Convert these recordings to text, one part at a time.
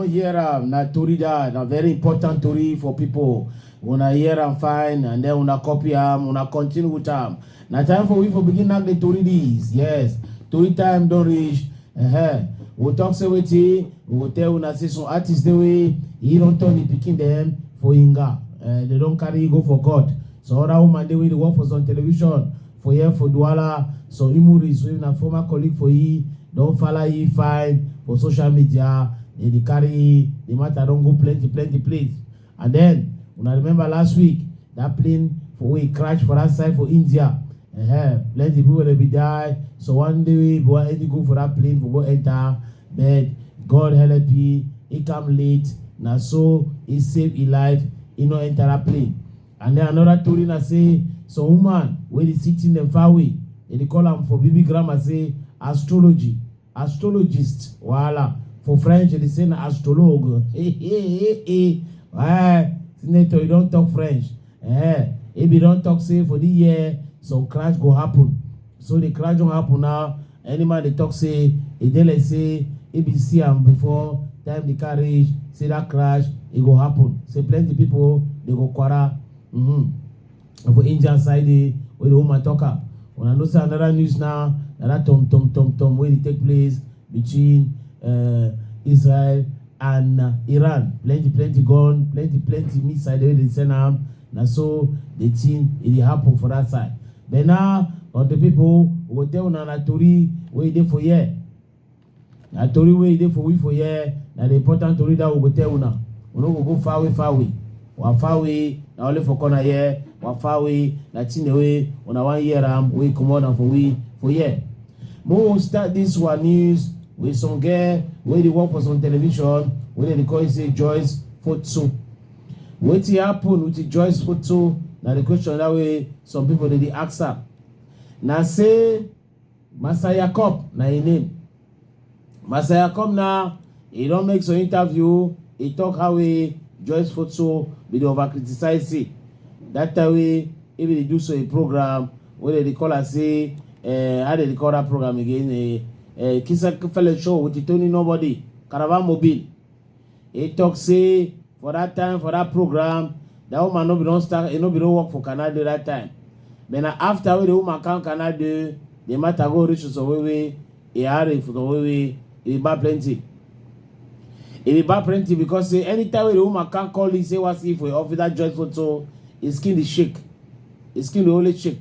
hear am na tori that na very important tori for people una hear am fine and then una copy am una continue with am na time for we for begin knack the tori this yes tori time don reach uh -huh. we talk say wetin we go tell una say some artists dey wey he don turn him pikin dem for inga uh, they don carry go for court some other woman dey wey dey work for some television for here for duala some imuris wey na former colleague for he don fala he fine for social media dey dey carry the matter don go plenty plenty place And then, una remember last week, that plane for wey crash for that side for India. Uh-huh. Plenty people dey be die. So one day we go any go for that plane for go enter, but God help he, he come late. Na so he save his life, he no enter that plane. And then another story na say some woman wey dey sitting dem far away, dem dey call am for baby grammar say astrology. astrologist wahala for french they say na astrologue eh eh eh eh eh senator you don talk french eh if you don talk say for the year some crash go happen so the crash don happen now any man dey talk say e dey like say e be see am before time the car reach say that crash e go happen say plenty people dey go kwara mm -hmm. And for Angel side, eh, where the woman talk am. When I know say another news now, na that tom tom tom tom wey dey take place between uh, Israel and uh, Iran. Plenty plenty gun, plenty plenty missile wey dey send am. Na so the thing e dey happen for that side. Then now, on the people we go tell una na tori wey dey for here. na tori wey e dey for we for here na the important tori that we go tell una we no go go far away far away wa far away na only for corner here wa far away na thing wey una wan hear am wey comot am for we for here mo we start this wa news with some girl wey dey work for some television wey dem dey call it say joyce foto wetin happen with the joyce foto na the question that way some people dey dey ask am na say Massa Yacob na im name. Massa Yacob now, he don make some interview, he talk how he Joyce Foto bin dey over criticize say that time wey he bin dey do so a program wey dem dey call am say uh, how dem dey call that program again uh, uh, Kisa Fele Show with Tony Nobody, Caravan Mobile. He talk say for that time, for that program, that woman no be don start, e no be don work for Canada that time. But na after wey the woman come Canada, the matter go reach to Sowewe, e hurry for Sowewe, e buy plenty. E dey buy plenty because say anytime wey the woman come call him say wan see for him office that joint photo, his skin dey shake. His skin dey always shake.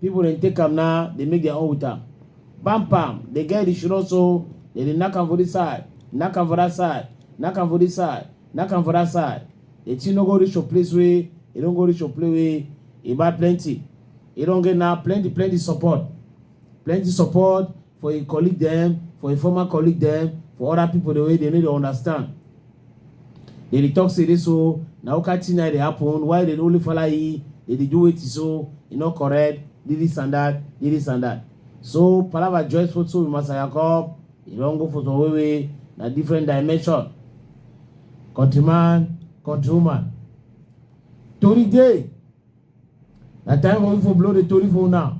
People dem take am now, they make their own with am. Bam bam, they get the shiro so they dey knack am for this side, knack am for that side, knack am for this side, knack am for that side. The thing no go reach your place wey e don go reach your place wey e buy plenty. E don get now plenty plenty support, plenty support for a colleague them, for a former colleague them, for other people the way they need to understand. Dem dey talk say this so na who kind thing na dey happen why dem only follow e dem dey do wetin so e no correct this this and that this this and that so palava join photo with Master Yakob e don go photo wey wey na different dimension countryman countrywoman tori dey na time wey we for blow the tori for una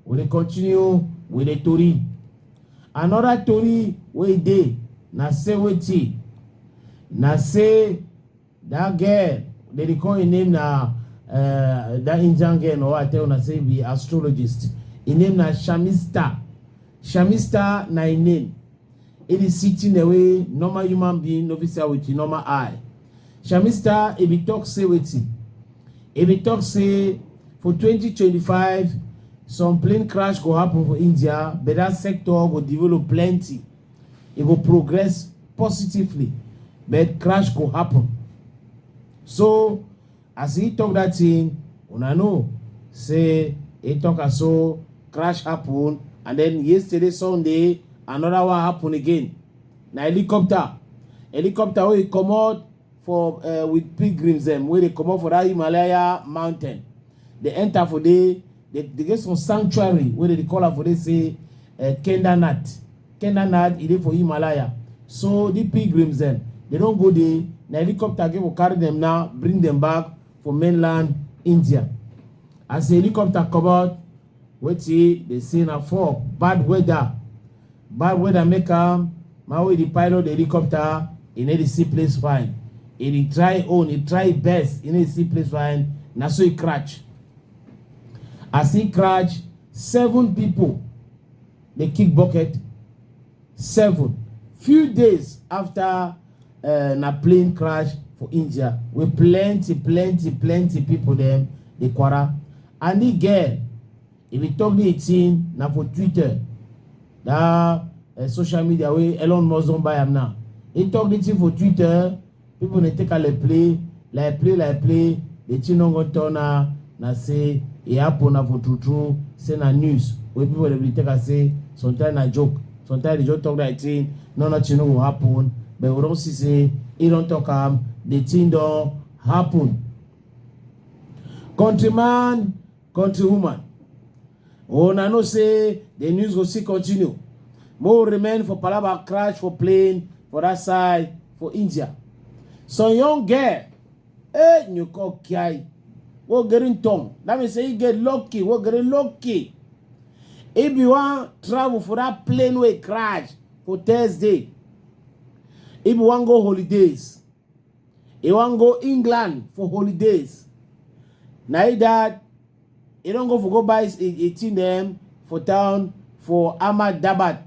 we dey continue with the tori another tori wey dey na say wetin na say that girl they dey call im name na uh, that indian girl no i tell una say be astrologist im name na shamista shamista na im name It is sitting the way normal human being no fit see with the normal eye. Shamista, if you talk, say wetin. If you talk, say for 2025, some plane crash go happen for India, but that sector go develop plenty. It go progress positively, but crash go happen. So As he talk that thing, una know say he talk am so crash happen and then yesterday Sunday another one happen again. Na helicopter, helicopter wey comot for uh, with pilgrims dem wey dey comot for that Himalaya mountain, dey enter for there They, they get some sanctuary where they call am for they say uh, eh, Kendanat. Kendanat e dey for Himalaya. So the pilgrims then they don't go there. Na helicopter go carry them now, bring them back for mainland India. As the helicopter come out, wetin dey say na for bad weather. Bad weather make am my way the pilot the helicopter e no dey see place fine. E dey try own, e try best, e no dey see place fine. Na so e crash. as im crash seven pipo dey kick bucket seven few days afta eh, na plane crash for india wey plenty plenty plenty pipo dem dey kwara and di girl e bin tok di tin na for twitter dat eh, social media wey elon musk don buy am now e tok di tin for twitter People they take a like play, like play, like play. The chinongo tona na say e happen na for true true. Say na news. When people they be take a say sometimes na joke, sometimes they just talk like thing. No, no, chino go happen. But we don't see say e don't talk am. The thing don't happen. Countryman, countrywoman. Una oh, know say the news go still continue. Mo remain for Palaba crash for plane for that side for India. Some young girl, eh, you call Kiai, wo getting tongue. That means say he get lucky, wo getting lucky. If you want travel for that plane way crash for Thursday, if you want go holidays, He wan go England for holidays. Na he that he don go for go buy a thing dem for town for Ahmad Dabat.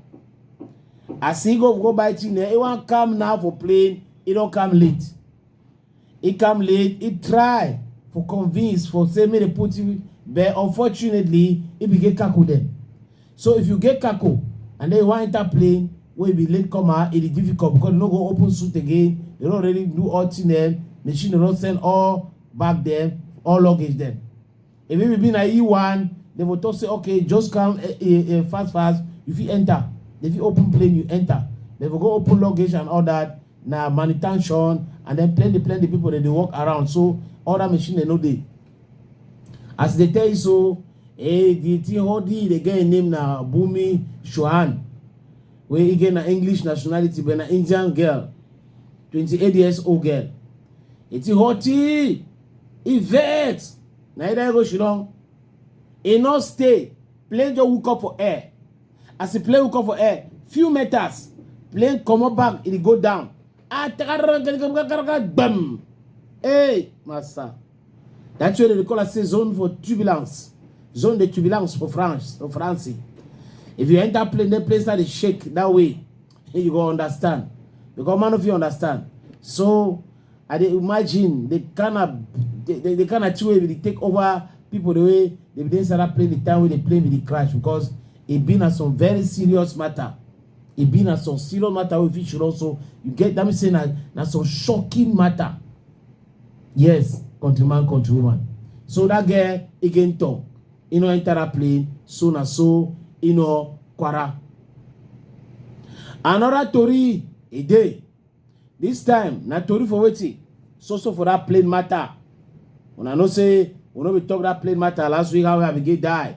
As he go go buy thing dem, he wan come now for plane, he don come late. He come late, he try for convince for say make they put him, but unfortunately, he begin tackle them. So if you get kako and then you wan enter plane wey be late comer, e dey difficult because you no go open suit again. They don already do all thing dem. Machine don send all bag dem, all luggage dem. If it be na you one, they will talk say okay, just come eh, eh, eh, fast fast. You fit enter. They fit open plane, you enter. They will go open luggage and all that. Na manutention and then plenty plenty people dem dey walk around. So all that machine dem no dey. As they tell you so, eh, the thing holding the girl name na Bumi Shohan. Where again na English nationality, but na Indian girl, 28 years old girl. It's hoti, Yvette. Na either go she don't. E no stay. Plane just hook up for air. As the plane hook up for air, few meters, plane come up back, it go down. Ah, bam. Hey, master. That's why they call us a zone for turbulence. Zone de turbulence for France, for France. If you enter plane, the place that they shake that way, you go understand. Because man of you understand. So I dey imagine the kind of the, the, the kind of two way they take over people the way they begin start playing the time wey they play with the crash because it been a some very serious matter e be na some serious matter wey fit should also you get that mean say na na some shocking matter yes countryman countrywoman so that girl again talk e no enter that plane so na so e no kwara another tori e dey this time na tori for wetin so so for that plane matter una know say we no be talk that plane matter last week how i begin die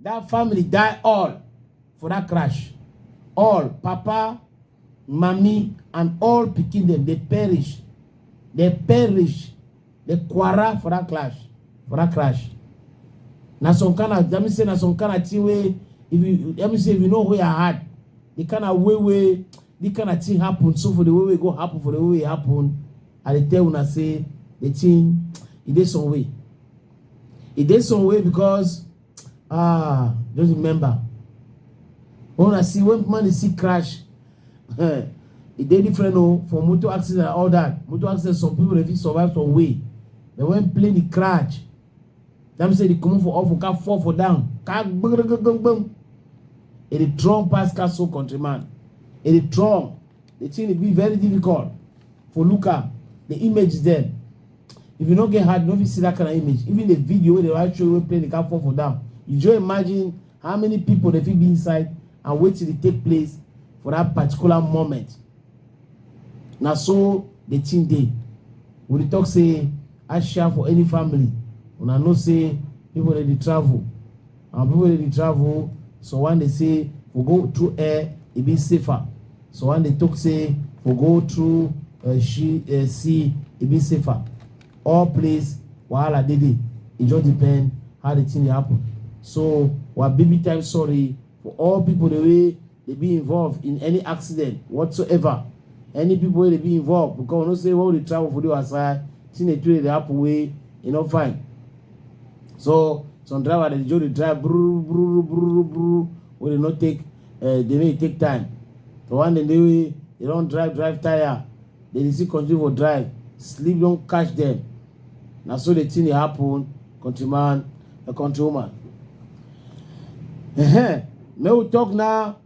That family die all for that crash. All, papa, mommy, and all pikin dem, they perish. They perish. They quarrel for that clash, for that crash. Na some kind of, let me say, na some kind of thing where, if you, let me say, if you know where I had, the kind of way where, the kind of thing happen, so for the way we go happen, for the way it happen, I dey tell una say, the thing, e dey some way. e dey some way because ah just remember when una see when man dey see crash eh, e dey different o for motor accident and all that motor accident some people dey fit survive some way but when plane dey crash that mean say dey comot for off for car fall for down car gbogbogbogbogbom e dey strong pass car so country man e dey strong the thing dey be very difficult for looker the image is there if you no get heart you no fit see that kind of image even the video wey dey write show wey plane dey come fall for down you just imagine how many people dey fit be inside and wetin dey take place for that particular moment na so the thing dey we dey talk say asia for any family una know say people dey dey travel Our people they travel, so when they say we go through air, it be safer. So when they talk say we go through uh, she, uh, sea, it be safer. All place, wahala dey dey. It just depend how the thing dey happen. So, we are baby time sorry for all people the way dey be involved in any accident whatsoever any people wey dey be involved because we know say when we dey travel for the other side thing dey do dey happen wey e no fine so some driver dey just dey drive bruru bruru bruru bruru wey dey no take uh, dey make e take time the one dem dey wey dey don drive drive tire dey dey still continue for drive sleep don catch dem na so the thing dey happen country man a country woman uh-huh. make we talk now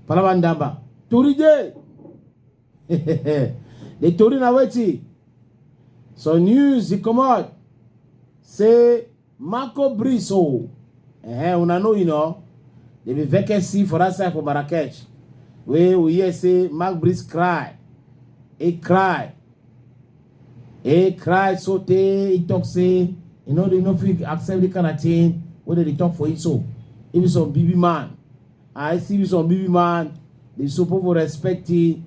palava ndamba tori dey the tori na wetin some news dey comot say Marco Brice o. Eh, una know you know. There be vacancy for that side for Marrakech. Wey we hear say Marco Brice cry. He cry. He cry so tey he talk say you know they no fit accept the kind of thing wey dey dey talk for him so. If be some BB man, I see be some BB man, they suppose for respect him.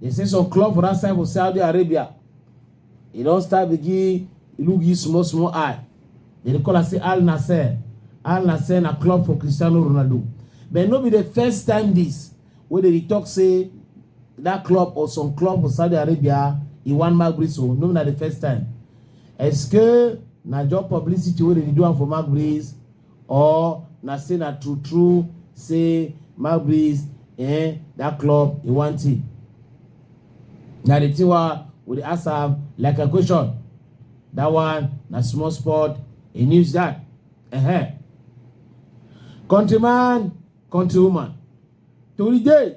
They say some club for that side for Saudi Arabia, e don start begin look you small small eye. They dey call am say Al Nassr. Al Nassr na club for Cristiano Ronaldo. But no be the first time this wey dey talk say that club or some club for Saudi Arabia e wan mark Breeze o. No be na the first time. Est-ce que na job publicity wey dey do am for mark Breeze or na say na true true say Magbis eh that club he want it. Na the thing wa we dey ask am like a question. That one na small sport he news that. Uh-huh. Countryman, countrywoman. Today,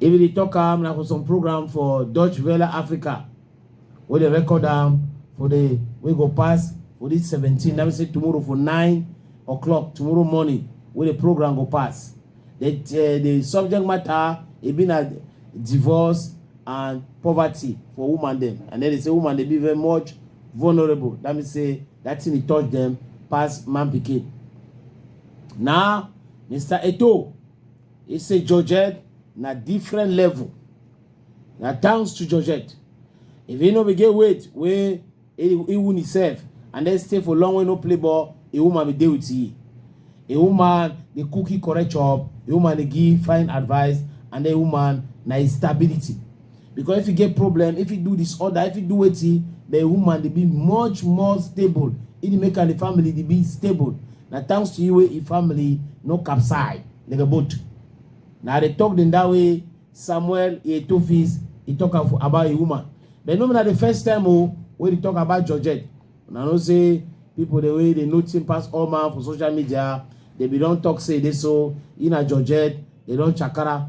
If you dey talk am na for some program for Dutch Welle Africa wey dey record am for the wey go pass for this 17 na be say tomorrow for 9 o'clock tomorrow morning wey the program go pass. The, uh, the subject matter e be na divorce and poverty for woman dem and then they say woman dey be very much vulnerable that means say that thing dey touch them pass man pikin. Na Mr. Eto He say Georgette na different level. Na thanks to Georgette. If he no be get weight wey he, he win himself and then stay for long wey no play ball, a woman be dey with he. A woman dey cook he correct chop, a woman dey give fine advice and a woman na his stability. because if you get problem if you do disorder if you do wetin the woman dey be much more stable e dey make am the family dey be stable na thanks to you wey e family no capsize like a boat na i dey talk dem that way samuel etofis e talk am for about a woman but no be na the first time o wey dey talk about georgette una know say people dey wey dey know thing pass all man for social media dey be don talk say e dey so e na georgette dey don chakara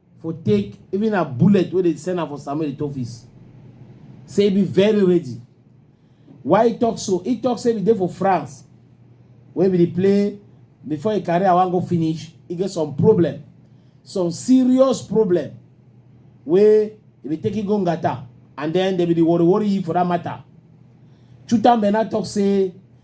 for take even a bullet wey dey send am for samuel eto'o office say e be very ready why e talk so e talk say e dey for france wey be the play before e career wan go finish e get some problem some serious problem wey e be taking go ngata and then dem be the worry worry for that matter chutambe now talk say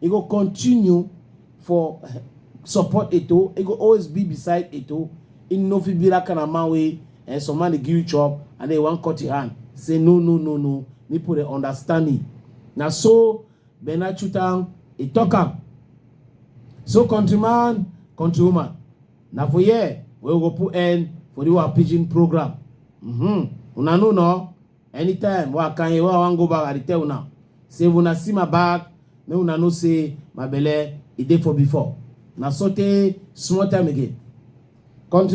e go continue for eh, support eto e go always be beside eto e no fit be that kind of man wey eh, some man dey give you chop and then wan cut your hand say no no no no me put dey understand me na so bernard chutam e talk am so countryman countrywoman na for here wey we go put end for the our pidgin program mm -hmm. una know no Anytime wa kanye wa wan go back, I dey tell una. Say if una see my back, make una know say my belle e dey for before. Na sotey small time again. Country